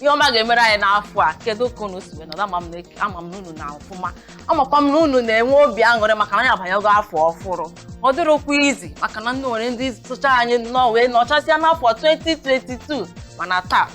ihe ọma ga-emere anyị n'afọ a kedu ka unu si wee nọrọ ama m na eke- ama m na unu nọ ọfụma amakwa m na unu na-enwe obi aṅụrị maka na anyị abanyago afọ ọfụrụ ọ dịrọkwa easy maka na o nwere ndị socha anyị nọọ wee nọchasịa n'afọ 2022 mana taa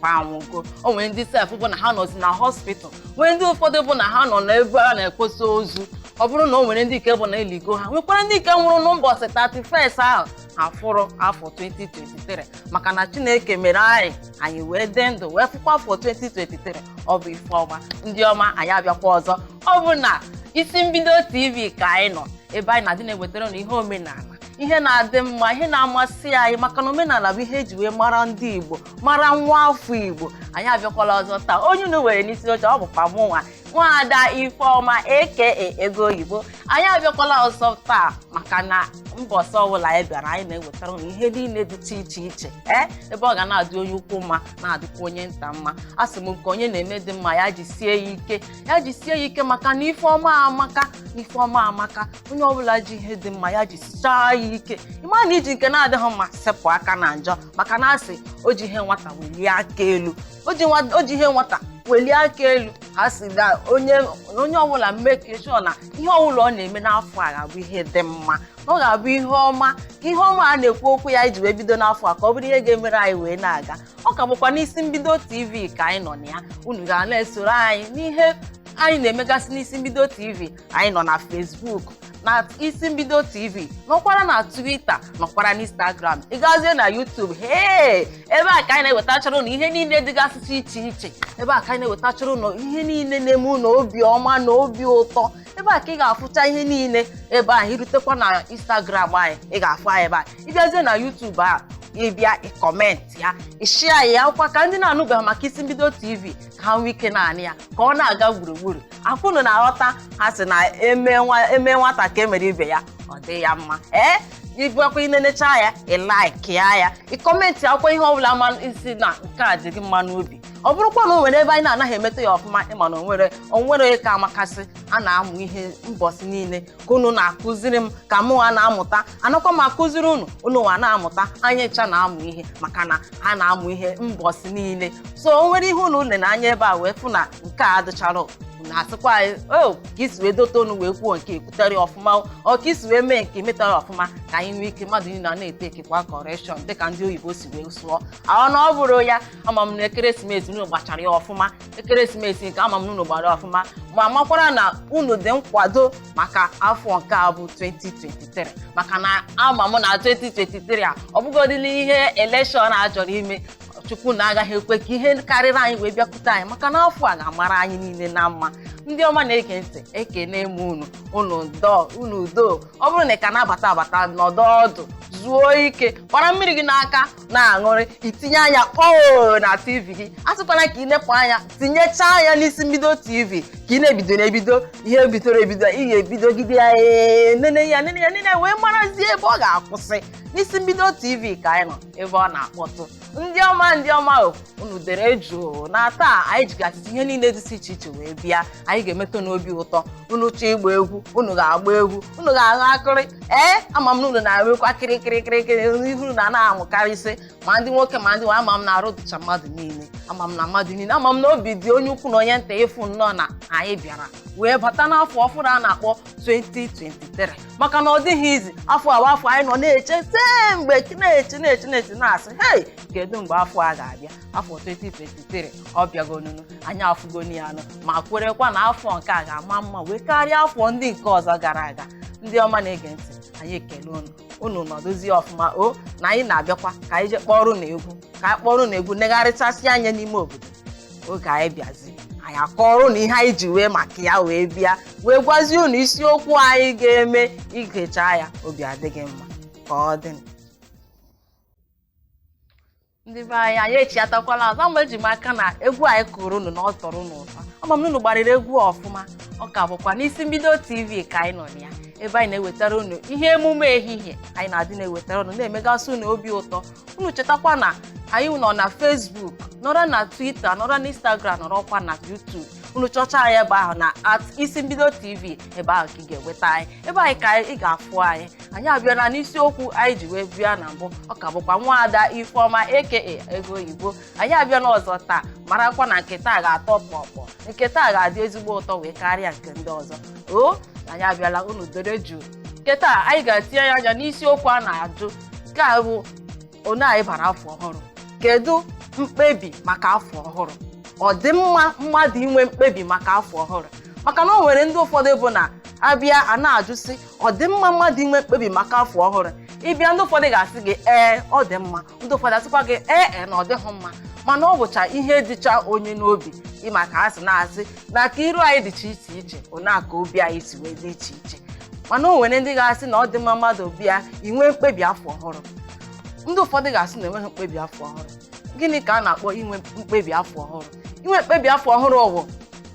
kwa anwụgo o nwere ndị sef bụ na ha nọzi na hospital nwee ndị ụfọdụ bụ na ha nọ n'ebe a na-ekposa ozu ọ bụrụ na o nwere ndị nke bụ na eligo ha nwekwara ndị nke nwụrụ na mbọsị 31st ahụ afụrọ afọ 2023 maka na chineke mere anyị anyị wee dị ndụ wee fụkwa afọ 2023 ọ bụ ife ọma ndị ọma anyị abịakwa ọzọ ọ bụ na isi mbido tv ka anyị nọ ebe anyị na-adị na-ewetara unu ihe omenala ihe na-adị mma ihe na-amasị anyị maka na omenala bụ ihe eji wee mara ndị igbo mara nwa afọ igbo anyị abịakwala ọzọ taa onye unu nwere n'isi oche ọ bụkwa mụ nwa nwaada ifeọma aka ego oyibo anyị abịakwala ọzọ taa maka na mbọsị ọbụla anyị bịara anyị na-ewetara unu ihe niile dịcha iche iche ee ebe ọ ga na-adị onye ukwu mma na-adịkwa onye nta mma a sị m nke onye na-eme dị mma ya jisie ya ike ya jisie ya ike maka na ife ọma amaka na ife ọma amaka onye ọbụla ji ihe dị mma ya jisichaa ya ike ị ma na i ji nke na-adịghị mma sepụ aka na njọ maka na a sị o ji ihe nwata welie aka elu o ji nwa- o ji ihe nwata welie aka elu ha sị na onye na onye ọbụla make sure na ihe ọbụla ọ na-eme n'afọ a ga-abụ ihe dị mma na ọ ga-abụ ihe ọma ka ihe ọma a na-ekwu okwu ya anyị ji wee bido n'afọ a ka ọ bụrụ ihe ga-emere anyị wee na-aga ọ ka bụkwa n'isi mbido tv ka anyị nọ na ya unu ga na-esoro anyị n'ihe anyị na-emegasị n'isi mbido tv anyị nọ na facebook na isi mbido tv nọkwara na twitter nọkwara na instagram ị gazie na youtube hee ebe a ka anyị na-ewetachara ụnụ ihe niile dịgasịsị iche iche ebe a ka anyị na-ewetachara ụnụ ihe niile na-eme ụnụ obi ọma na obi ụtọ ebe a ka ị ga-afụcha ihe niile ebe ahụ i rutekwa na instagram anyị ị ga-afụ anyị ebe a ị bịazie na youtube a ị bịa ị comment ya ị share ya akwụkwọ ka ndị na-anụbeghị maka isi mbido tv ka ha nwee ike na-anụ ya ka ọ na-aga gburugburu ọ kwa unu na-aghọta ha sị na eme nwa- eme nwata ka emere ibe ya ọ dị ya mma ee ị bịakwa i nenecha ya ị likeịa ya ị commentịa kwukwuo ihe ọbụla ma ị sị na nke a dị gị mma n'obi ọ bụrụkwa na o nwere ebe anyị na-anaghị emeta ya ọfụma ị ma na onwere onwere ka amakasị a na-amụ ihe mbọsị niile ka unu na-akụziri m ka mụ nwa na-amụta anakwa m akụziri unu unu nwa na-amụta anyị ncha na-amụ ihe maka na a na-amụ ihe mbọsị niile so o nwere ihe unu nene anya ebe a wee fụ na nke a adịcharọ unu asịkwa anyị o ka i si wee dote ọnụ wee kwuo nke ekwuterọ ya ọfụma o ọ ka i si wee mee nke metarọ ya ọfụma ka anyị nwee ike mmadụ niile a na-etakekwa correction dịka ndị oyibo si wee sụọ ahụ na ọ bụrụ ya ama m na ekeresimesi unu gbachara ya ọfụma ekeresimesi nke ama m na unu gbara ya ọfụma ma makwara na unu dị nkwado maka afọ nke a bụ 2023 maka na ama m na 2023 a ọ bụgodịla ihe election a chọrọ ime chukwu na agaghị ekwe ka ihe karịrị anyị wee bịakwute anyị maka na afọ a ga-amara anyị niile na mma ndị ọma na-ege ntị ekene m unu unu dọọ unu doo ọ bụrụ na ị ka na-abata abata nọdụ ọdụ zuo ike kpara mmiri gị n'aka na-aṅụrị itinye anya kpọọ na tv gị asịkwana ka ị nepụ anya tinyechaa anya n'isi mbido tv ka ị na-ebido na-ebido ihe bidoro ebido ị ga-ebidogide ya ee, nene ya nene ya nene ya wee marazie ebe ọ ga-akwụsị n'isi mbido tv ka anyị nọ ebe ọ na-akpọtụ ndị ọma ndị ọma o unu dere jụụ na taa anyị jigasịzi ihe niile dịsị iche iche wee bịa anyị ga-emetụ unu obi ụtọ unu chọọ ịgba egwu unu ga-agba egwu unu ga-aṅụ akịrị ee ama m na unu na-enwukwa kịrịkịrịkịrịkịrị ihu unu a na-amụkarịsị ma ndị nwoke ma ndị nwaanyị ama m na arụ dịcha mmadụ niile ama m na mmadụ niile ama m na obi dị onye ukwu na onye nta ịfụ nnọọ na anyị bịara wee bata n'afọ ọfụrụ a na-akpọ 2023 maka na ọ dịghị easy afọ awa afọ anyị nọ na-eche tee mgbe na-eche na-eche na-eche na-asị hei kedu mgbe afọ a ga-abịa afọ 2023 ọ bịagonunu anyị afụgonu ya anya ma kwerekwa na afọ nke a ga-ama mma wee karịa afọ ndị nke ọzọ gara aga ndị ọma na-ege ntị anyị ekele unu unu nọdụzie ọfụma o na anyị na-abịakwa ka anyị jee kpọrọ unu egwu ka anyị kpọrọ unu egwu negharịchasị anya n'ime obodo oge anyị bịazi anyị akọrọ unu ihe anyị ji wee maka ya wee bịa wee gwazie unu isiokwu anyị ga-eme i gechaa ya obi adị gị mma ka ọ dị ndị be anyị anyị echiatakwala azụ ama eji m aka na egwu anyị kụrụ unu na ọ tọrọ unu ụtọ ama m na unu gbarịrị egwu ọfụma ọ ka bụkwa n'isi mbido tv ka anyị nọ na ya ebe anyị na-ewetara unu ihe emume ehihie anyị na-adị na-ewetara unu na-emegasị unu obi ụtọ unu chetakwa na anyị nọ na facebook nọrọ na twitter nọrọ na instagram nọrọkwa na youtube unu chọcha anyị ebe ahụ na at isi mbido tv ebe ahụ ka ị ga-enweta anyị ebe ahụ ka ị ga-afụ anyị anyị abịala n'isiokwu anyị ji wee bịa na mbụ ọ ka bụkwa nwaada ifeọma aka ego oyibo anyị abịala ọzọ taa marakwa na nke taa ga-atọ kpọkpọ nke taa ga-adị ezigbo ụtọ wee karịa nke ndị ọzọ o anyị abịala unu dere jụụ nke taa anyị ga-etinyegasị anya n'isiokwu a na-ajụ nke a bụ na anyị bara afọ ọhụrụ kedu mkpebi maka afọ ọhụrụ ọ dị mma mmadụ inwe mkpebi maka afọ ọhụrụ maka na o nwere ndị ụfọdụ bụ na a bịa a na-ajụsị ọ dị mma mmadụ inwe mkpebi maka afọ ọhụrụ ị bịa ndị ụfọdụ ga-asị gị ee ọ dị mma ndị ụfọdụ asịkwa gị ee e na ọ dịghị mma mana ọ bụcha ihe dịcha onye n'obi ị ma ka ha si na-asị na ka iru anyị dịcha iche iche ona ka obi anyị si wee dị iche iche mana o nwere ndị ga-asị na ọ dị mma mmadụ bịa inwe mkpebi afọ ọhụrụ ndị ụfọdụ ga-asị na enweghị mkpebi afọ ọhụrụ gịnị ka a na-akpọ inwe mkpebi afọ ọhụrụ inwe mkpebi afọ ọhụrụ ọ wụ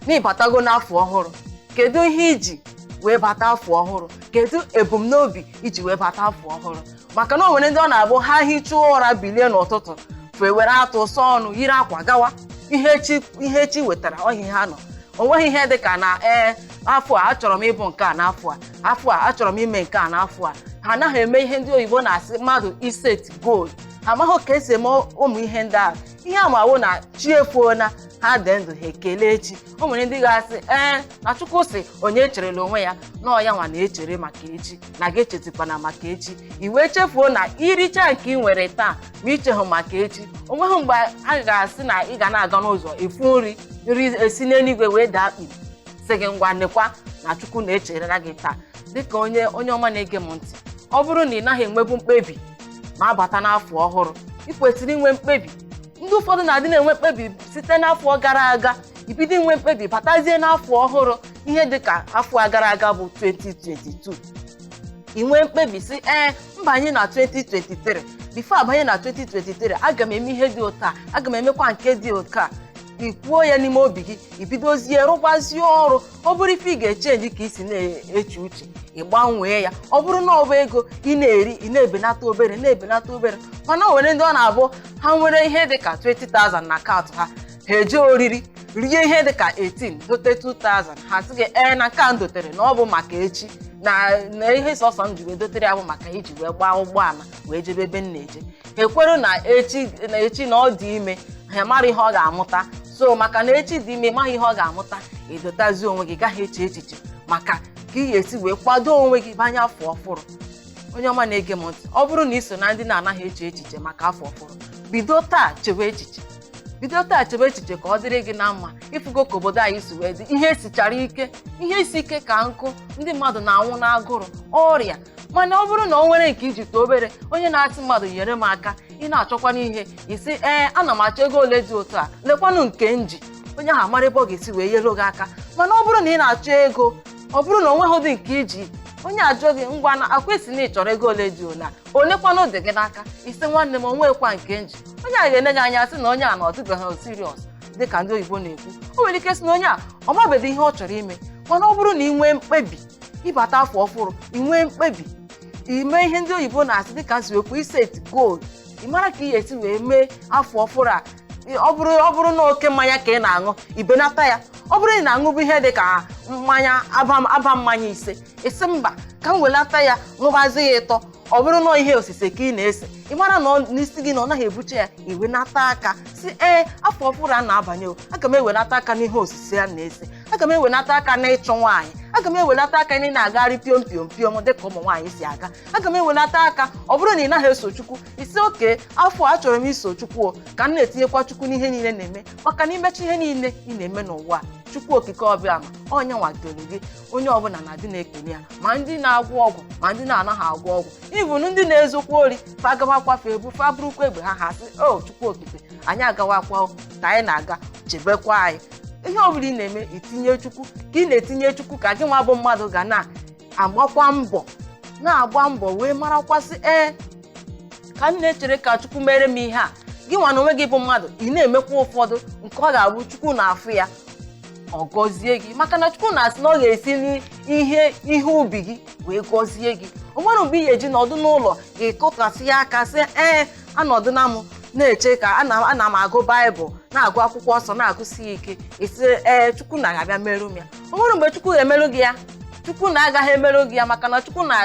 na ị batago n'afọ ọhụrụ kedu ihe i ji wee bata afọ ọhụrụ kedu ebumnobi i ji wee bata afọ ọhụrụ maka na o nwere ndị ọ na-abụ ha hichaa ụra bilie n'ụtụtụ fa ewere atụ sọ ọnụ yiri akwa gawa ihe chi ihe chi wetara ọhịa ha nọ o nweghị ihe dị ka na ee afọ a achọrọ m ịbụ nke a n'afọ a afọ a achọrọ m ime nke a n'afọ a ha anaghị eme ihe ndị oyibo na-asị mmadụ iset goal ha amaghị ka esi eme ụmụ ihe ndị a ihe ha ma wụ na chi efoo na ha dị ndụ ha ekelee chi o nwere ndị ga-asị ee na chukwu sị onye echerela onwe ya na ọ ya nwa na-echere maka echi na gị echetikwana maka echi i wee chefuo na i richa nke ị nwere taa ma i chehụ maka echi o nweghị mgbe a ga-asị na ị ga na-aga n'ụzọ ị fụ nri nri esi n'eluigwe wee daa akpi sị gị ngwa nekwa na chukwu na-echerela gị taa dịka onye onye ọma na-ege m ntị ọ bụrụ na ị naghị enwebu mkpebi na-abata n'afọ ọhụrụ ị kwesịrị inwe mkpebi ndị ụfọdụ na-adị na-enwe mkpebi site n'afọ gara aga ibido inwe mkpebi batazie n'afọ ọhụrụ ihe dị ka afọ gara aga bụ 2022 i nwee mkpebi sị ee m banye na 2023 bifo a banye na 2023 aga m eme ihe dị otu a aga m emekwa nke dị otu a i kwuo ya n'ime obi gị i bidozie rụgbazie ọrụ ọ bụrụ ife ị ga-echenji ka i si na-eche uche ị gbanwee ya ọ bụrụ na ọ bụ ego ị na-eri ị na-ebenata obere na-ebenata obere mana o nwere ndị ọ na-abụ ha nwere ihe dị ka 20,000 na akaụntụ ha ha eje oriri rie ihe dị ka 18 dote 2000 ha sị gị ee na nke a m dotere na ọ bụ maka echi na na ihe sọsọ m ji wee dotere ya bụ maka iji wee gbaa ụgbọala wee jebe ebe m na-eje ha ekwere na echi na echi na ọ dị ime ha mara ihe ọ ga-amụta so maka na echi dị ime ị maghị ihe ọ ga-amụta i dotazi onwe gị gaghị eche echiche maka ka ị ga-esi wee kwado onwe gị banye afọ ọhụrụ onye ọma na-ege m ntị ọ bụrụ na i so na ndị na-anaghị eche echiche maka afọ ọhụrụ bido taa chewe echiche bido taa chebe echiche ka ọ dịrị gị na mma ị fụgo ka obodo anyị si wee dị ihe sichara ike ihe isi ike ka nkụ ndị mmadụ na-anwụ n'agụrụ ọrịa mana ọ bụrụ na o nwere nke i ji too obere onye na-asị mmadụ nyere m aka ị na-achọkwanụ ihe ị sị ee ana m achọ ego ole dị otu a lekwanụ nke m ji onye ahụ amara ebe ọ ga-esi wee nyere gị aka mana ọ bụrụ na ị na-achọ ego ọ bụrụ na o nweghịdị nke i ji onye ajụ gị ngwa nekwa ị sị na ị chọrọ ego ole dị ole olekwanụ dị gị n'aka ị sị nwanne m o nwekwa nke m ji onye a ga-ele gị anya sị na onye a na ọ dịbeghị siriọs dị ka ndị oyibo na-ekwu o nwere ike sị na onye a ọ mabeghị ihe ọ chọrọ ime mana ọ bụrụ na ị nwee mkpebi ịbata afọ ọfụrụ ị nwee mkpebi ime ihe ndị oyibo na-asị dịka si wekwu iset goal ị mara ka ị ga-esi wee mee afọ ọhụrụ a Ị- ọ bụrụ ọ bụrụ na oke mmanya ka ị na-aṅụ ị benata ya ọ bụrụ na ị na-aṅụbụ ihe dị ka mmanya aba aba mmanya ise ị sị mba ka m welata ya ṅụbazi ya ịtọ ọ bụrụ na ihe osise ka ị na-ese ị mara na ọ- na isi gị na ọ naghị ebucha ya ị wenata aka sị ee afọ ọhụrụ a na-abanye o aga m ewenata aka n'ihe osise a na-ese aga m ewenata aka n'ịchụ nwaanyị aga m ewelata aka na ị na-agagharị piom piom piom dịka ụmụ nwaanyị si aga aga m ewelata aka ọ bụrụ na ị naghị eso chukwu ị sị okay afọ a achọrọ m iso chukwu o ka m na-etinyekwa chukwu n'ihe niile m na-eme maka na ị mechaa ihe niile ị na-eme n'ụwa chukwu okike ọ bụ ya ma onye nwagoro gị onye ọbụla na-adị na-ekele ya ma ndị na-agwọ ọgwụ ma ndị na-anaghị agwọ ọgwụ even ndị na-ezokwa ori fa gawakwa fa ebu fa burukwa egbe ha ha sị o chukwu okike anyị agawakwa ka anyị na-aga chebekwa anyị ihe ọ bụla ị na-eme ị tinye chukwu ka ị na-etinye chukwu ka gị nwa bụ mmadụ ga na-agbakwa mbọ na-agba mbọ wee marakwa sị ee ka m na-echere ka chukwu mere m ihe a gị nwa na onwe gị bụ mmadụ ị na-emekwa ụfọdụ nke ọ ga-abụ chukwu na-afụ ya ọ gọzie gị maka na chukwu na-asị na ọ ga-esi n'ihe ihe ubi gị wee gọzie gị o nwere mgbe ị ga-eji nọdụ n'ụlọ gbakọtasịa aka sị ee anọdụna m na-eche ka ana ana m agụ baịbụl na-agụ akwụkwọ nsọ na-agụsi ya ike ị sị ee chukwu na ga-abịa merụ m ya o nwere mgbe chukwu ga-emerụ gị ya chukwu na agaghị emerụ gị ya maka na chukwu na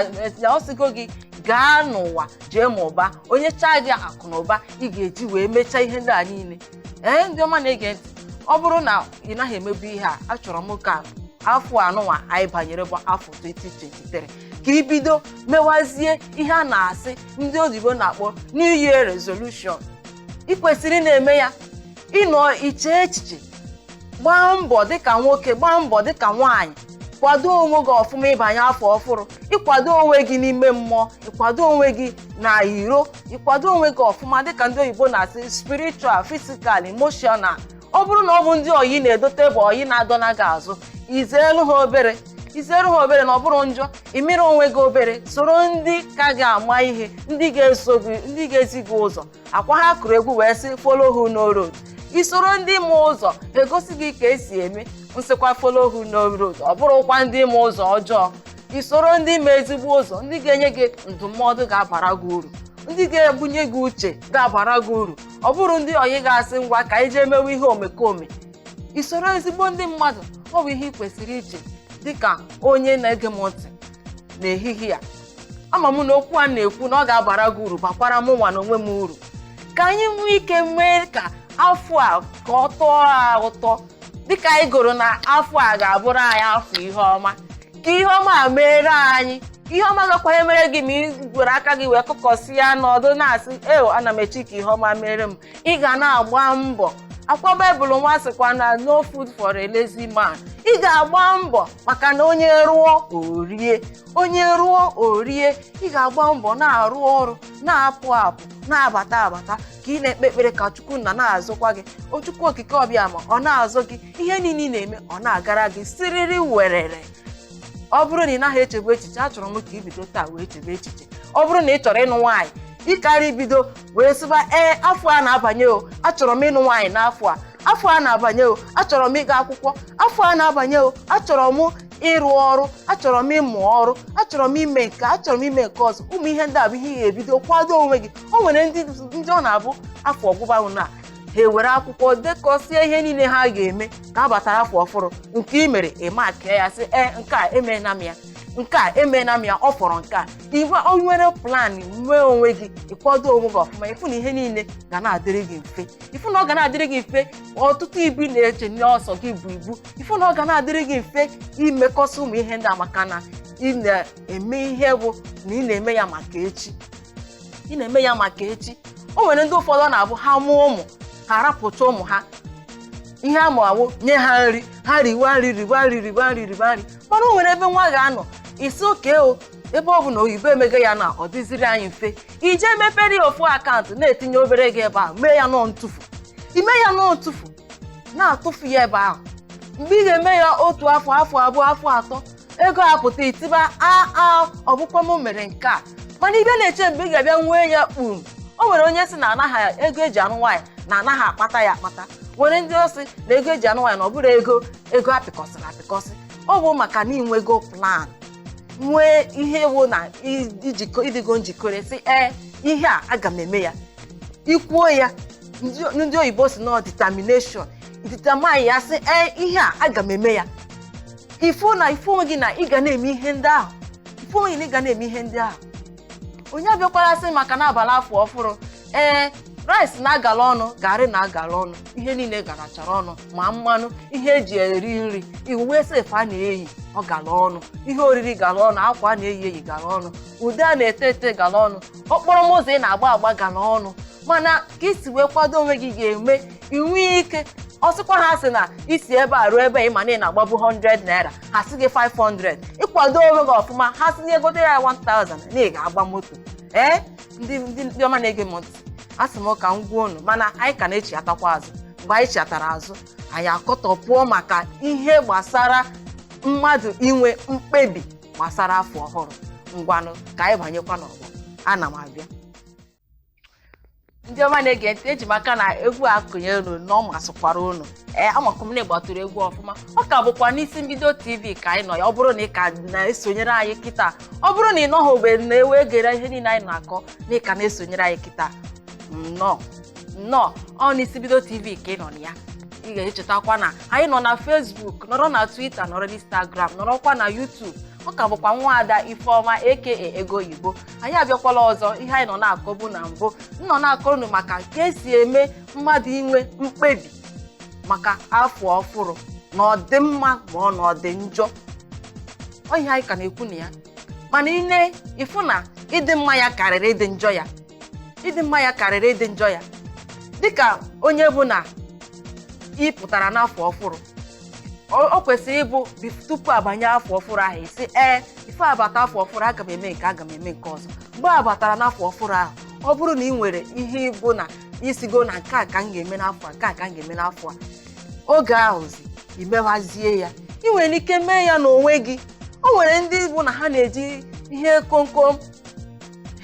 ọ sịgo gị gaa n'ụwa jee mụbaa o nyechaa gị akụ na ụba ị ga-eji wee mechaa ihe ndị a niile ee ndị ọma na-ege ntị ọ bụrụ na ị naghị emebu ihe a achọrọ m ka afọ anụnwa anyị banyere bụ afọ 2023 ka i bido mewazie ihe a na-asị ndị oyibo na-akpọ new year resolution ị kwesịrị na-eme ya ị nọọ ị chee echiche gbaa mbọ dịka nwoke gbaa mbọ dịka nwaanyị kwado onwe gị ọfụma ịbanye afọ ọfụrụ ịkwado onwe gị n'ime mmụọ ịkwado onwe gị n'iro ịkwado onwe gị ọfụma dịka ndị oyibo na-asị spiritual physical emotional ọ bụrụ na ọ bụ ndị ọyị ị na-edote bụ ọyị na-adọna gị azụ ị zeelụ ha obere ị zeerụ ha obere na ọ bụrọ njọ imere onwe gị obere soro ndị ka gị ama ihe ndị ga-eso gị ndị ga-ezi gị ụzọ ọ kwa ha kụrụ egwu wee sị follow who know road i soro ndị ma ụzọ e gosi gị ka e si eme m sịkwa follow who know road ọ bụrọkwa ndị ma ụzọ ọjọọ i soro ndị ma ezigbo ụzọ ndị ga-enye gị ndụmọdụ ga-abara gị uru ndị ga-ebunye gị uche ga-abara gị uru ọ bụrọ ndị ọyị ga-asị ngwa ka anyị jee mewe ihe omekome isoro ezigbo ndị mmadụ ọ bụ ihe ị kwesịrị iche dịka onye na-ege m ntị n'ehihie a ama m na okwu a na-ekwu na ọ ga-abara gị uru bakwara mụ nwa na onwe m uru ka anyị nwee ike mee ka afọ a ka ọ tọọ a ụtọ dịka anyị gụrụ na afọ a ga-abụrụ anyị afọ ihe ọma ka ihe ọma a meere anyị ihe ọma agakwaghị emere gị ma ị gwere aka gị wee kụkọsịa nọdụ na-asị eo ana m eche ka ihe ọma mere m ị ga na-agba mbọ ọ kwa baịbụl nwa sịkwa na no food for a lazy man ị ga-agba mbọ maka na onye rụọ o rie onye rụọ o rie ị ga-agba mbọ na-arụ ọrụ na-apụ apụ na-abata abata ka ị na-ekpe ekpere ka chukwu nna na-azụkwa gị O chukwu okike abịama ọ na-azụ gị ihe niile ị na-eme ọ na-agara gị siriri werere ọ bụrụ na ị naghị echebu echiche achọrọ m ka i bido taa wee chebe echiche ọ bụrụ na ị chọrọ ịnụ nwaanyị ị kara bido wee sịba ee afọ a na-abanye o achọrọ m ịnụ nwaanyị n'afọ a afọ a na-abanye o achọrọ m ịga akwụkwọ afọ a na-abanye o achọrọ m ịrụ ọrụ achọrọ m ịmụ ọrụ achọrọ m ime nke achọrọ m ime nke ọzọ ụmụ ihe ndị a bụ ihe ị ga-ebido kwado onwe gị o nwere ndị ndị ọ na-abụ afọ gwụbana ha ewere akwụkwọ dekọsie ihe niile ha ga-eme ka a batara afọ ọfụrụ nke i mere ị maakịa ya sị ee nke a emeela m ya nke a emeela m ya ọ fọrọ nke a i wee nwere plan nwee onwe gị ị kwado onwe gị ọfụma ị fụ na ihe niile ga na-adịrị gị mfe ị fụ na ọ ga na-adịrị gị mfe ọtụtụ ibu ị na-eche na sọ gị bu ibu ị fụ na ọ ga na-adịrị gị mfe imekọsị ụmụ ihe ndị a maka na ị na-eme ihe bụ na ị na-eme ya maka echi ị na-eme ya maka echi o nwere ndị ụfọdụ ọ na-abụ ha mụọ ụmụ ha arapụcha ụmụ ha ihe ha ma wụ nye ha nri ha riwa nri riwa nri riwa nri riwa nri mana o nwere ebe nwa ga-anọ ị sị okay ebe ọ bụ na oyibo emego ya na ọ dịziri anyị mfe i je mepere ya ofu akaụntụ na-etinye obere ego ebe ahụ mee ya na ọ ntụfu i mee ya na ọ ntụfu na-atụfu ya ebe ahụ mgbe ị ga-eme ya otu afọ afọ abụọ afọ atọ ego apụta i tiba aa ọ bụkwa m mere nke a mana ibe na-eche mgbe ị ga-abịa nwee ya kpum o nwere onye sị na anaghị ego e ji anụ nwaanyị na anaghị akpata ya akpata nwere ndị sị na ego e ji anụ nwaanyị na ọ bụrụ ego ego a pịkọsịrị apịkọsị ọ bụ maka na i nwego plan nwee ihe wụ na i jikọ ị dịgo njikere sị ee ihe a aga m eme ya i kwuo ya ndị- ndị oyibo sị na ọ determination determine ya sị ee ihe a aga m eme ya ị fụ na ị fụ onwe gị na ị ga na-eme ihe ndị ahụ ị fụ onwe gị na ị ga na-eme ihe ndị ahụ onye abịakwara sị maka na a bala afọ ọfụrụ ee rice na-agala ọnụ garị na-agala ọnụ ihe niile garachara ọnụ ma mmanụ ihe e ji eri nri uwe sef a na-eyi ọ gala ọnụ ihe oriri gala ọnụ akwa a na-eyi eyi gala ọnụ ude a na-ete ete gala ọnụ okporo moto ị na-agba agba gala ọnụ mana ka i si wee kwado onwe gị ga-eme inwe ike ọ sịkwa ha sị na isi ebe a ruo ebe a ị ma na ị na-agbabu 100 naira ha sị gị 500 ị kwado onwe gị ọfụma ha sị nye gote ya 1000 na ị ga-agba moto ee ndị ndị ndị ọma na-ege m ntị asị m ka m gwa unu mana anyị ka na-echighatakwa azụ mgbe anyị chighatara azụ anyị akọtọpụọ maka ihe gbasara mmadụ inwe mkpebi gbasara afọ ọhụrụ ngwanụ ka anyị banyekwa n'ọgbọ ana m abịa ndị ọma na-ege ntị eji m aka na egwu a kụnye unu na ọ masịkwara unu ee amakwa m na ị gbatụrụ egwu ọfụma ọ ka bụkwa n'isi mbido tv ka anyị nọ ya ọ bụrụ na ị ka na-esonyere anyị kịta ọ bụrụ na ị nọghị ogbe na-ewe gere ihe niile anyị na-akọ na ị ka na-esonyere anyị kịta nnọọ nnọọ ọ n'isi mbido tv ka ị nọ na ya ị ga-echetakwa na anyị nọ na facebook nọrọ na twitter nọrọ na instagram nọrọkwa na youtube ọ ka bụkwa nwaada ifeọma aka ego oyibo anyị abịakwala ọzọ ihe anyị nọ na-akọbu na mbụ m nọ na-akọrọ unu maka ka e si eme mmadụ inwe mkpebi maka afọ ọfụrụ na ọ dị mma ma ọ na ọ dị njọ ọ ihe anyị ka na-ekwu na ya mana i nee ị fụ na ịdị mma ya karịrị ịdị njọ ya ịdị mma ya karịrị ịdị njọ ya dịka onye bụ na ị pụtara n'afọ ọfụrụ ọ ọ kwesịrị ịbụ bif- tupu a banye afọ ọfụrụ ahụ ị sị ee if a bata afọ ọfụrụ aga m eme nke a aga m eme nke ọzọ mgbe a batara n'afọ ọfụrụ ahụ ọ bụrụ na ị nwere ihe ịbụ na ị sịgo na nke a ka m ga-eme n'afọ a nke a ka m ga-eme n'afọ a oge ahụzi i mewazie ya ị nwere ike mee ya n'onwe gị o nwere ndị bụ na ha na-eji ihe komkom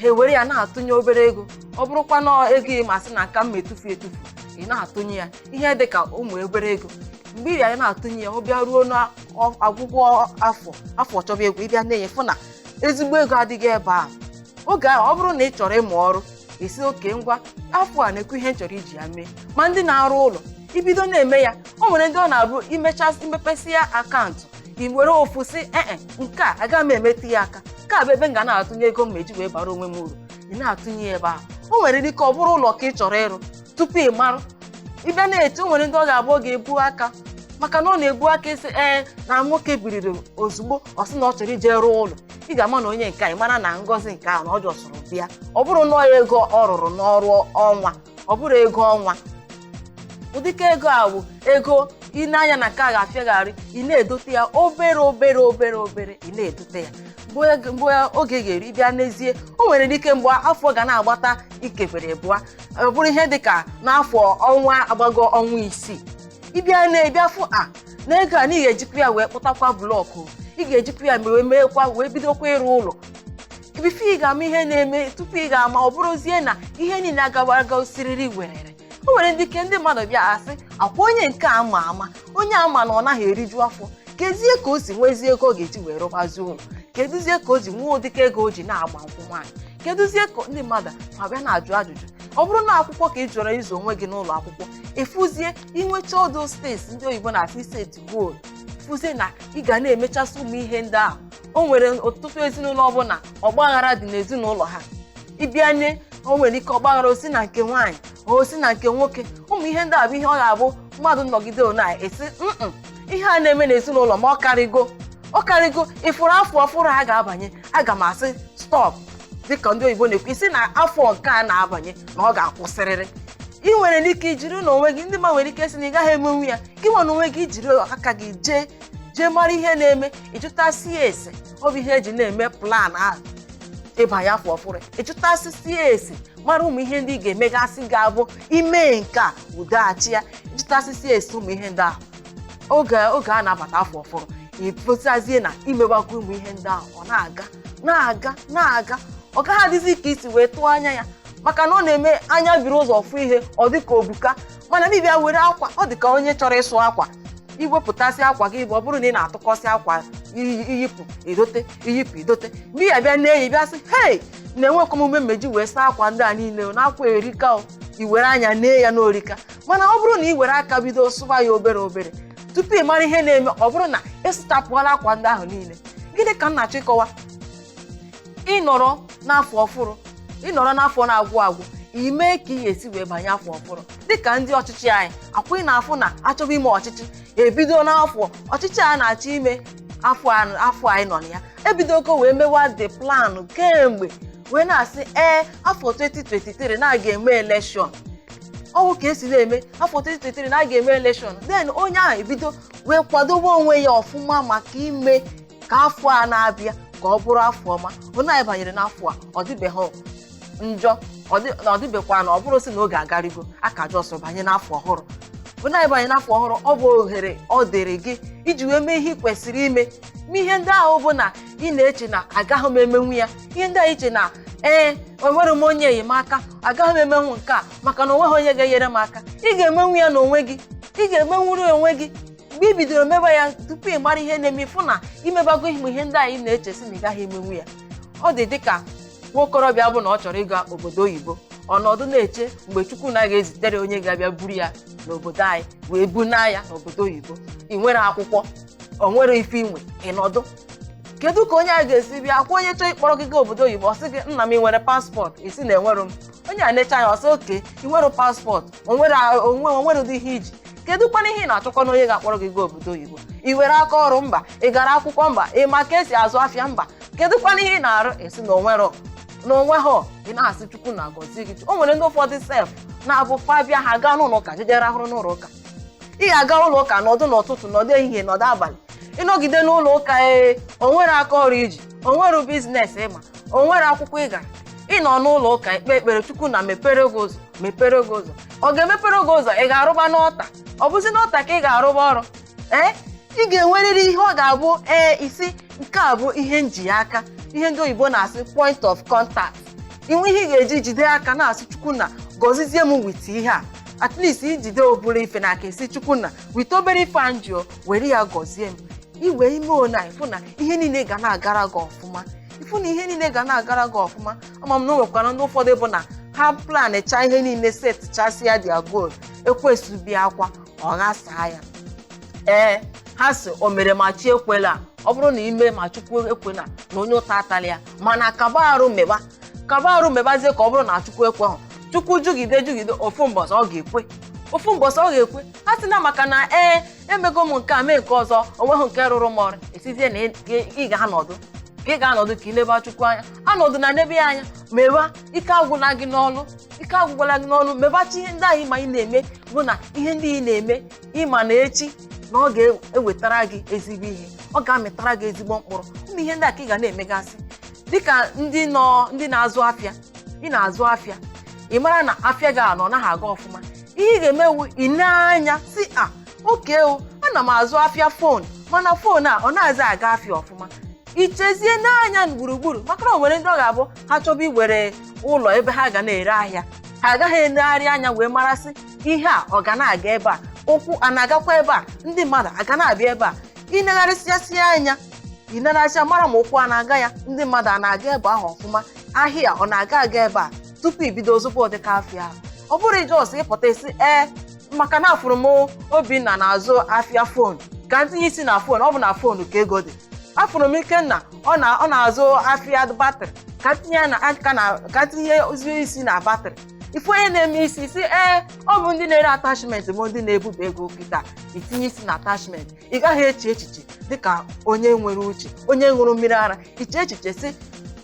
ha ewere ya na-atụnye obere ego ọ bụrụkwa na ego ị ma sị na aka m etufu etufu ị na-atụnye ya ihe dị ka ụmụ obere ego mgbe ị ya na-atụnye ya ọ bịa ruo n'ọgwụgwụ afọ afọ chọba ịgwụ ị bịa nee anya fụ na ezigbo ego adịgo ebe a oge ahụ ọ bụrụ na ị chọrọ ịmụ ọrụ ị sị okay ngwa afọ a nekwa ihe m chọrọ iji ya mee ma ndị na-arụ ụlọ i bido na-eme ya o nwere ndị ọ na-abụ imechasị imepesị ya akaụntụ i were ofu sị ee nke a agaghị m emetụ ya aka nke a bụ ebe m ga na-atụnye ego m ma eji wee bara onwe m uru ị na-atụnye ya ebe ahụ o nwere ike ọ bụrụ ụlọ ka ị chọrọ ịrụ tupu ị marụ ị bịa na-eche o nwere ndị ọ ga-abụ ọ ga-ebu aka maka na ọ na-ebu aka ị sị ee na nwoke biriri ozugbo ọ sị na ọ chọrọ ije rụọ ụlọ ị ga-ama na onye nke a ị mara na ngọzi nke ahụ na ọ jọsụrụ bịa ọ bụrụ na ọ ego ọ rụrụ n'ọrụ ọnwa ọ bụrụ ego ọnwa ụdịka ego a bụ ego ị na-anya na nke a ga-afịagharị ị na-edote ya obere obere obere obere ị na-edote ya mgbe oge- mgbe oge ga-eru ị bịa neezie o nwere ike mgbe afọ ga na-agbata ikebere bụa ọ bụrụ ihe dị ka n'afọ ọnwa agbago ọnwa isii ị bịa nee bịa fụ na ego a na ị ga-ejikwa ya wee kpụtakwa blọkụ ị ga-ejikwa ya wee meekwa wee bidokwa ịrụ ụlọ before ị ga-ama ihe na-eme tupu ị ga-ama ọ bụrụzie na ihe niile agawa aga osiriri werere o nwere ndị ike ndị mmadụ bịa asị ọkwa onye nke a ma ama onye a ma na ọ naghị eriju afọ kezie ka o si nwezie ego ọ ga-eji wee rụbazi ụlọ kedụzie ka o ji nwee ụdịka ego o ji na-agba nkwụ nwaanyị kedụzie ka ndị mmadụ abịa na-ajụ ajụjụ ọ bụrụ na akwụkwọ ka ị chọrọ ịzụ onwe gị n'ụlọ akwụkwọ ị fụzie inwecha ọdụ steeti ndị oyibo na-asị set goal fụzie na ị ga na-emechasị ụmụ ihe ndị ahụ o nwere ọtụtụ ezinụlọ ọ bụ na ọgbaghara dị n'ezinụlọ ha ị bịa nee o nwere ike ọgbaghara o si na nke nwaanyị o si na nke nwoke ụmụ ihe ndị a bụ ihe ọ ga-abụ mmadụ nọgide ọ na-asị mm ihe a na-eme n'ezinụlọ m a ọ karịgo ọ karịgo ị fụrụ afọ ọfụrụ a ga-abanye aga m asị stọp dịka ndị oyibo na-ekwu ị sị na afọ nke a na-abanye na ọ ga-akwụsịrịrị ị nwere ike ijiri n'onwe gị ndị mmadụ nwere ike sị na ị gaghị emenwu ya gị nwa n'onwe gị i jiri aka gị jee jee mara ihe na-eme ị jụtasị ya ese ọ bụ ihe e ji na-eme plan ahụ ịbanye afọ ọfụrụ ị jụtasịsị ya ese mara ụmụ ihe ndị ị ga-emegasị ga-abụ i mee nke a udo achịa jụtasịsị ese ụmụ ihe ndị ahụ oge oge a na-abata afọ ọfụrụ ị pụtazie na i mewakwa ụmụ ihe ndị ahụ ọ na-aga na-aga na-aga ọ gaghị adịzi ka i si wee tụọ anya ya maka na ọ na-eme anya biri ụzọ fụ ihe ọ dị ka o buka mana ị bịa were akwa ọ dị ka onye chọrọ ịsụ akwa i wepụtasị akwa gị bụ ọ bụrụ na ị na-atụkọsị akwa iyi- i yipụ i dote i yipụ i dote mgbe ị ga-abịa nee ị bịa sị hei na enwekwa m ume m ga-eji wee saa akwa ndị a niile o, na akwa erika o i were anya nee ya na o rika mana ọ bụrụ na i were aka bido sụba ya obere obere tupu ị mara ihe na-eme ọ bụrụ na ị sụchapụọla akwa ndị ahụ niile gịnị ka m na-achọ ịkọwa ị nọrọ n'afọ ọfụrụ ị nọrọ n'afọ na-agwụ agwụ ime ka ị ga-esi wee banye afọ ọfụrụ dịka ndị ọchịchị anyị ọkwa ị na-afụ na a chọba ime ọchịchị ebido n'afọ ọchịchị a na-achọ ime afọ a- afọ anyị nọ na ya ebidogo wee mewa the plan kemgbe wee na-asị ee afọ 2023 na a ga-eme elekshọn ọ wụ ka e si na-eme afọ 2023 na a ga-eme elekshọn then onye ahụ ebido wee kwadobe onwe ya ọfụma maka ime ka afọ a na-abịa ka ọ bụrụ afọ ọma onye anyị banyere n'afọ a ọ dịbeghị njọ ọ dị- na ọ dịbekwa na ọ bụrụ sị na oge agarigo a ka just banye n'afọ ọhụrụ bụ na ị banye n'afọ ọhụrụ ọ bụ ohere ọ dịrị gị iji wee mee ihe ị kwesịrị ime ma ihe ndị ahụ bụ na ị na-eche na agaghị m emenwu ya ihe ndị a i che na ee enwerọ m onye enyemaka agaghị m emenwu nke a maka na o nweghị onye ga-enyere m aka ị ga-emenwu ya n'onwe gị ị ga-emenwuru ya onwe gị mgbe ị bidoro mebe ya tupu ị mara ihe na-eme ị fụ na i mebago ihe ihe ndị ahụ ị na-eche sị na ị gaghị emenwu ya ọ dị dịka nwa okorobịa bụ na ọ chọrọ ịga obodo oyibo ọ nọdụ na-eche mgbe chukwunna ga-ezitere onye ga-abịa buru ya n'obodo anyị wee bunaa ya n'obodo oyibo i nwerọ akwụkwọ o nwerọ ife i nwe ị nọdụ kedu ka onye a ga-esi bịa ọ kwa onye chọọ ịkpọrọ gị gaa obodo oyibo ọ sị gị nna m i nwere passport ị sị na enwerọ m onye a nechaa anya ọ sị okay i nwerọ passport o nwerọ o nwe o nwerọdị ihe i ji kedu kwanụ ihe ị na-achọkwanụ onye ga-akpọrọ gị gaa obodo oyibo i nwere aka ọrụ mba ị gara akwụkwọ mba ị ma ka e si azụ afịa mba kedu kwanụ ihe ị na-arụ ị sị na o nwerọ na o nwerọ ị na-asị chukwunna gọzie gị o nwere ndị ụfọdụ sef na-abụ fa bịa ha gaa n'ụlọ ụka jeje rahụrụ n'ụlọ ụka ị ga-aga ụlọ ụka nọdụ n'ụtụtụ nọdụ ehihie nọdụ abalị ị nọgide n'ụlọ ụka ee o nwerọ aka ọrụ i ji o nwerọ business ị ma o nwerọ akwụkwọ ị gara ị nọ n'ụlọ ụka ekpe ekpere chukwunna mepere gị ụzọ mepere gị ụzọ ọ ga-emepere gị ụzọ ị ga-arụba n'altar ọ bụzi n'altar ka ị ga-arụba ọrụ ee ị ga-enwerịrị ihe ọ ga-abụ ee ị sị nke a bụ ihe m ji aka ihe ndị oyibo na-asị point of contact i nwee ihe ị ga-eji jide aka na-asị chukwunna gọzizie m with ihe a at least i jide obere ife n'aka ị sị chukwunna with obere ife a m ji o were ya gọzie m iwe ime ona ị fụ na ihe niile ga na-agara gị ọfụma ị fụ na ihe niile ga na-agara gị ọfụma ama m na o nwekwara ndị ụfọdụ bụ na ha planchaa ihe niile setchasịa their goal ekwensu bịakwa ọ ghasaa ya ee ha sị o mere ma chi ekwela ọ bụrụ na i mee ma chukwu ekwela na onye ụta atala ya mana kaba arụ meba kaba arụ mebazie ka ọ bụrụ na chukwu ekwehụ chukwu jụgide jụgide ofu mbọsị ọ ga-ekwe ofu mbọsị ọ ga-ekwe asịna maka na ee emego m nke a mee nke ọzọ o nweghị nke rụrụ m ọrụ ị sịzie na ị ga-anọdụ ka ị ga-anọdụ ka i leba chukwu anya anọdụna nebe anya meba ike agwụla gị n'ọlụ ike agwụkwala gị n'ọlụ mebazi ihe ndị ahụ ị ma ị na-eme bụ na ihe ndị ị na-eme ị ma na echi na ọ ga-ewetara gị ezigbo ihe ọ ga-amịtara gị ezigbo mkpụrụ ụmụ ihe ndị a ka ị ga na-emegasị dịka ndị nọ ndị na-azụ afịa ị na-azụ afịa ị mara na afịa gị a na ọ naghị aga ọfụma ihe ị ga-eme wụ ị nee anya sị a okay o ana m azụ afịa phone mana phone a ọ nazi aga afịa ọfụma ichezie n'anya gburugburu maka na o nwere ndị ọ ga-abụ ha chọba iwere ụlọ ebe ha ga na-ere ahịa ha agaghị enegharị anya wee marasị ihe a ọ ga na-aga ebe a ụkwụ a na-agakwa ebe a ndị mmadụ aga na-abịa ebe a ị negharịsịasịa anya ị negharịsịa mara ma ụkwụ a na-aga ya ndị mmadụ a na-aga ebe ahụ ọfụma ahịa ọ na-aga aga ebe a tupu ibido zụba ụdịka afịa ahụ ọ bụrụ ị just pụta ị sị ee maka na afụrụ m obinna na-azụ afịa phone ka m tinye isi na phone ọ bụ na phone ka ego dị afụrụ m ikenna ọ na ọ na-azụ afịa battery ka m tinye ya na aka na ka m tinyezie isi na battery ife onye na-eme ị sị sị ee ọ bụ ndị na-ere attachment bụ ndị na-ebuba ego kịta itinye isi na attachment ị gaghị eche echiche dịka onye nwere uche onye ṅụrụ mmiri ara iche echiche sị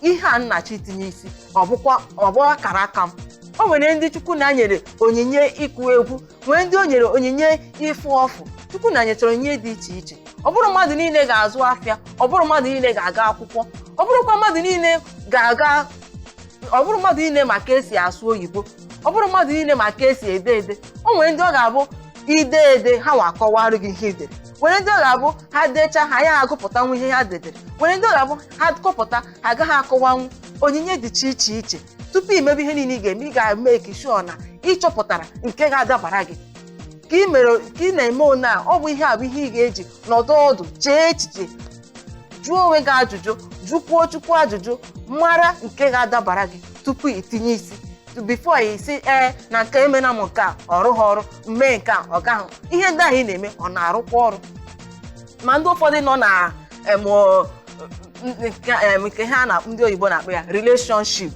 ihe a m na-achọ itinye isi ọ bụkwa ọ bụ akara aka m o nwere ndị chukwu nna nyere onyinye ịkụ egwu nwee ndị o nyere onyinye ịfụ ọfụ chukwu nna nyechara onyinye dị iche iche ọ bụrụ mmadụ niile ga-azụ afịa ọ bụrụ mmadụ niile ga-aga akwụkwọ ọ bụrụkwa mmadụ niile ga-aga ọ bụrụ mmadụ niile ma ka e si asụ oyibo ọ bụrụ mmadụ niile ma ka e si ede ede o nwere ndị ọ ga-abụ i dee ede ha nwa akọwarụ gị ihe i dere nwere ndị ọ ga-abụ ha decha ha ya agụpụtanwu ihe ha dedere nwere ndị ọ ga-abụ ha gụpụta ha agaghị akọwanwu onyinye dị iche iche iche tupu i mebe ihe niile ị ga-eme ị ga-make sure na ị chọpụtara nke ga-adabara gị ka ị mere ka ị na-eme one a ọ bụ ihe a bụ ihe ị ga-eji nọdụ ọdụ chee echiche jụọ onwe gị ajụjụ jụkwuo chukwu ajụjụ mara nke ga-adabara gị tupu itinye isi before ị sị ee na nke emena m nke a ọ rụghị ọrụ mee nke a ọ gaghị ihe ndị ahụ ị na-eme ọ na-arụkwa ọrụ ma ndị ụfọdụ nọ na em, ọ, nke em, nke ha na ndị oyibo na-akpọ ya relationship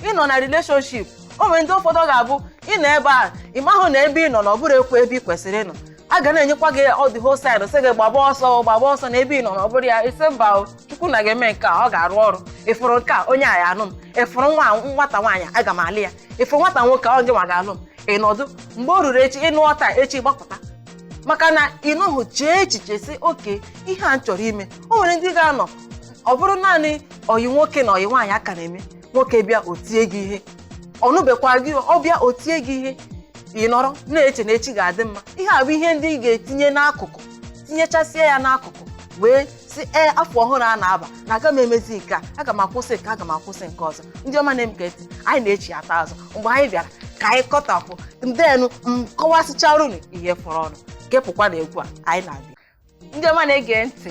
ị nọ na relationship o nwere ndị ụfọdụ ọ ga-abụ ị nọ ebe a ị mahụ na ebe ị nọ na ọ bụrụkwa ebe ị kwesịrị ịnọ a ga na-enyekwa gị the whole sign sị gị gbaba ọsọ gbaba ọsọ na ebe ị nọ na ọ bụrụ ya ị sị mba o, chukwu nna ga-eme nke a ọ ga-arụ ọrụ ị fụrụ nke a onye a ya-anụ m ị fụrụ nwa nwata nwaanyị aga m alụ ya ị fụrụ nwata nwoke ọ gị nwa ga-alụ m ị nọdụ mgbe o ruru echi ị nụọ taa echi gbapụta maka na ị nọhụ chee echiche sị okay ihe a m chọrọ ime o nwere ndị ga-anọ ọ bụrụ naanị ọyị nwoke na ọyị nwaanyị a ka na-eme nwoke bịa o tie gị ihe ọ nụbekwa gị ọ bịa o tie gị ihe ị nọrọ na-eche na echi ga-adị mma ihe a bụ ihe ndị ị ga-etinye n'akụkụ tinyechasịa ya n'akụkụ wee sị ee afọ ọhụrụ a na-aba na aga m emezi nke a aga m akwụsị nke aga m akwụsị nke ọzọ ndị ọma na-ege ntị anyị na-echighata azụ mgbe anyị bịara ka anyị kọtapụ ndenu m kọwasịchara unu ihe fọrọ ọnụ kepụkwa na egwu a anyị na-abịa ndị ọma na-ege ntị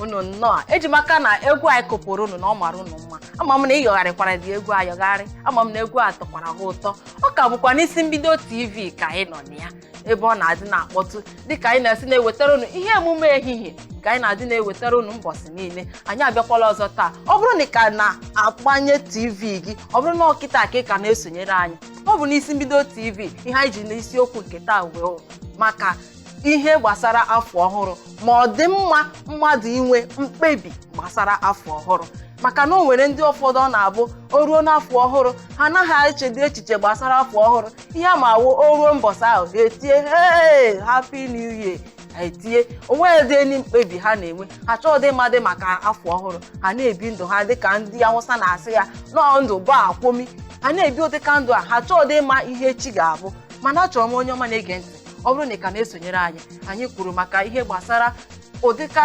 unu nnọọ eji m aka na egwu anyị kụpụrụ unu na ọ mara unu mma ama m na ị yọgharịkwara dị egwu ayọgharị ama m na egwu a tọkwara gị ụtọ ọ ka bụkwa n'isi mbido tv ka anyị nọ na ya ebe ọ na-adị na-akpọtụ dịka anyị na-esi na-ewetara unu ihe emume ehihie ka anyị na-adị na-ewetara unu mbọsị niile anyị abịakwala ọzọ taa ọ bụrụ na ị ka na-agbanye tv gị ọ bụrụ na ọ kịta ka ị ka na-esonyere anyị ọ bụ n'isi mbido tv ihe anyị ji n'isiokwu nke taa wụ maka ihe gbasara afọ ọhụrụ ma ọ dị mma mmadụ inwe mkpebi gbasara afọ ọhụrụ maka na o nwere ndị ụfọdụ ọ na-abụ o ruo n'afọ ọhụrụ ha anaghị echedị echiche gbasara afọ ọhụrụ ihe ha ma wụ o ruo mbọsị ahụ ha etie hey happy new year ha etie onweghịdị any mkpebi ha na-enwe ha chọọdị ịmadị maka afọ ọhụrụ ha na-ebi ndụ ha dịka ndị awụsa na-asị ya na ọ ndụ ba kwomi ha na-ebi ụdịka ndụ a ha chọọdị ịma ihe echi ga-abụ mana achọrọ m onye ọma na-ege ntị ọ bụrụ na ị ka na-esonyere anyị anyị kwuru maka ihe gbasara ụdịka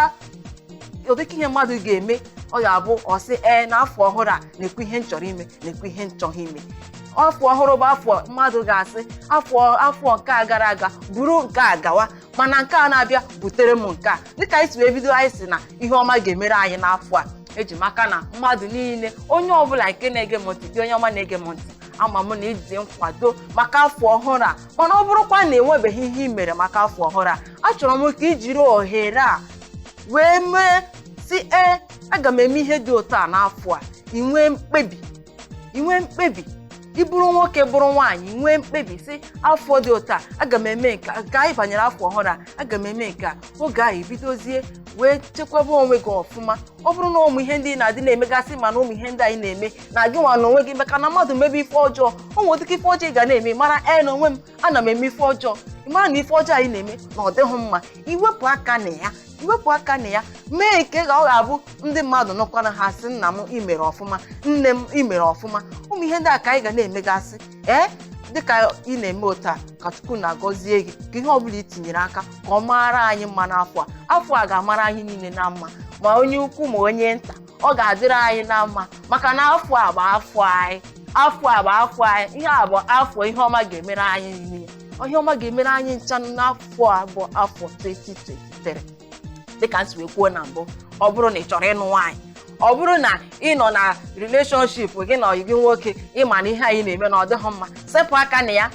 ụdịka ihe mmadụ ga-eme ọ ga-abụ ọ sị ee n'afọ ọhụrụ a nekwa ihe m chọrọ ime nekwa ihe m chọghị ime afọ ọhụrụ bụ afọ mmadụ ga-asị afọ afọ nke a gara aga buru nke a gawa mana nke a na-abịa butere m nke a dịka anyị si wee bido anyị sị na ihe ọma ga-emere anyị n'afọ a eji m aka na mmadụ niile onye ọbụla nke na-ege m ntị gị onye ọma na-ege m ntị ama m na ị dị nkwado maka afọ ọhụrụ a mana ọ bụrụkwa na enwebeghị ihe ị mere maka afọ ọhụrụ a achọrọ m ka i jiri ohere a wee mee sị ee aga m eme ihe dị otu a n'afọ a ị nwee mkpebi i nwee mkpebi ị bụrụ nwoke bụrụ nwaanyị nwee mkpebi sị afọ dị otu a aga m eme nke a. ka anyị banyere afọ ọhụrụ a aga m eme nke a oge ahụ i bidozie wee chekwaba onwe gị ọfụma ọ bụrụ na ụmụ ihe ndị ị na-adị na-emegasị ma na ụmụ ihe ndị anyị na-eme na gị nwa na onwe gị maka na mmadụ mebe ife ọjọọ o nwere dịka ife ọjọọ ị ga na-eme mara ee na onwe m ana m eme ife ọjọọ ị mara na ife ọjọọ anyị na-eme na ọ dịghị mma i wepụ aka na ya wepụ aka na ya mee nke ka ọ ga-abụ ndị mmadụ nụkwanụ ha sị nna m i mere ọfụma nne m i mere ọfụma ụmụ ihe ndị a ka anyị ga na-emegasị ee dịka ị na-eme otu a ka chukwu na-agọzie gị ka ihe ọbụla i tinyere aka ka ọ mara anyị mma n'afọ a afọ a ga-amara anyị niile na mma ma onye ukwu ma onye nta ọ ga-adịrị anyị na mma maka na afọ a bụ afọ anyị afọ a bụ afọ anyị ihe a bụ afọ ihe ọma ga-emere anyị niile ihe ọma ga-emere anyị ncha n'afọ a bụ afọ 2023 dịka m si wee kwuo na mbụ ọ bụrụ na ị chọrọ ịnụ nwaanyị ọ bụrụ na ị nọ na relationship gị na ọyị gị nwoke ị ma na ihe anyị na-eme na ọ dịghị mma sepụ aka na ya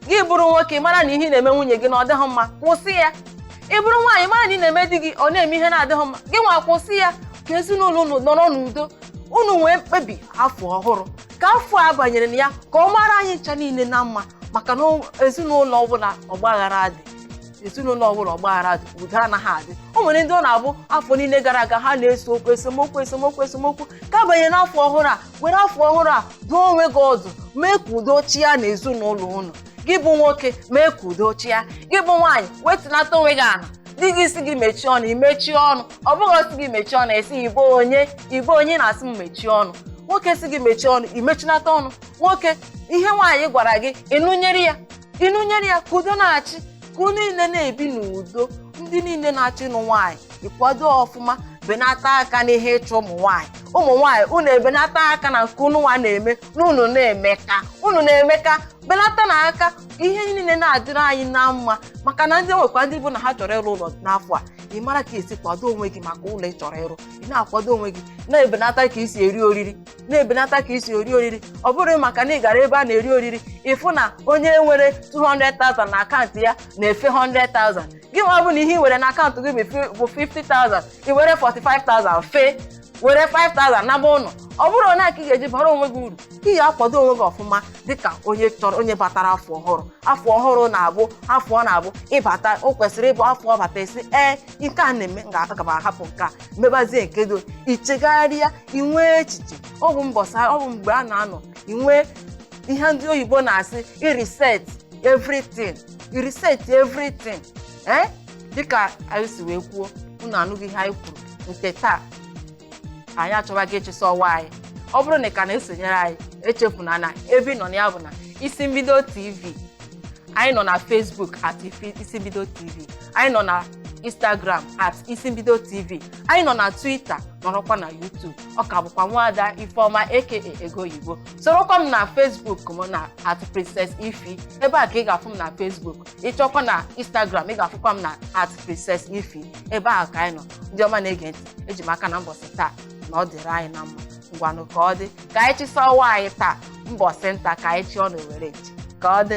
gị bụrụ nwoke mara na ihe ị na-eme nwunye gị na ọ dịghị mma kwụsị ya ị bụrụ nwaanyị mara na ị na-eme di gị ọ na-eme ihe na-adịghị mma gị nwa kwụsị ya ka ezinụlọ unu nọrọ n'udo unu nwee mkpebi afọ ọhụrụ ka afọ a banyere na ya ka ọ mara anyị ncha niile na mma maka na ezinụlọ ọbụla ọgbaghara dị ezinụlọ ọbụla ọgbaghara dị udo anaghị adị o nwere ndị ọ na-abụ afọ niile gara aga ha na-ese okwu esemokwu esemokwu esemokwu ka a banyere n'afọ ọhụrụ a were afọ ọhụrụ a dụọ onwe gị ọdụ mee ka udo chịa na ezinụlọ unu gị bụ nwoke mee ka udo chịa gị bụ nwaanyị wetinata onwe gị ala di gị sị gị mechie ọnụ i mechie ọnụ ọ bụghị ọ sị gị mechie ọnụ ị sị ị bụ onye ị bụ onye na-asị m mechie ọnụ nwoke sị gị mechie ọnụ i mechinata ọnụ nwoke ihe nwaanyị gwara gị ị nụnyere ya ị nụnyere ya ka udo na-achị ka unu niile na-ebi n'udo ndị niile na-achọ ịnụ nwaanyị ị kwado ọfụma benata aka n'ihe ịchụ ụmụ nwaanyị ụmụ nwaanyị unu ebenata aka na nke unu nwa na-eme na unu na-emeka unu na-emeka benata na aka ihe niile na-adịrị anyị na mma maka na ndị e nwekwa ndị bụ na ha chọrọ ịrụ ụlọ n'afọ a ị mara ka e si kwado onwe gị maka ụlọ ị chọrọ ịrụ ị na-akwado onwe gị na-ebenata ka i si eri oriri na-ebenata ka i si eri oriri ọ bụrọ maka na ị gara ebe a na-eri oriri ị fụ na onye nwere 200,000 na akaụntụ ya na-efe 100,000 gị nwa bụ na ihe ị nwere na akaụntụ gị bụ fi- bụ 50,000 ị were 45,000 fee were 5000 naba ụlọ ọ bụrụ onye ka ị ga-eji bara onwe gị uru ị ga-akwado onwe gị ọfụma dịka onye chọrọ onye batara afọ ọhụrụ afọ ọhụrụ na-abụ afọ ọ na-abụ ịbata o kwesịrị ịbụ afọ ọ bata ị sị ee nke a na-eme m ga- aga m ahapụ nke a mebazie nke do i chegharịa i nwee echiche ọ bụ mbọsa ọ bụ mgbe a na-anọ i nwee ihe ndị oyibo na-asị i reset everything i reset everything ee dịka anyị si wee kwuo unu anụgo ihe anyị kwuru nke taa anyị achọwago ịchịsa ọwa anyị ọ bụrụ na ị ka na-esonyere anyị echefuna na ebe ị nọ na ya bụ na isi mbido tv anyị nọ na facebook at Ifi- isi mbido tv anyị nọ na instagram at isi mbido tv anyị nọ na twitter nọrọkwa na youtube ọ ka bụkwa nwaada ifeọma aka ego oyibo sorokwa m na facebook m na at princess ify ebe a ka ị ga-afụ m na facebook ị chọkwa na instagram ị ga-afụkwa m na at princess ify ebe ahụ ka anyị nọ ndị ọma na-ege ntị eji m aka na mbọsị taa na ọ dịrị anyị na mma ngwanụ ka ọ dị ka anyị chịsa ọwa anyị taa mbọsị nta ka anyị chụọ na owere nchi ka ọ dị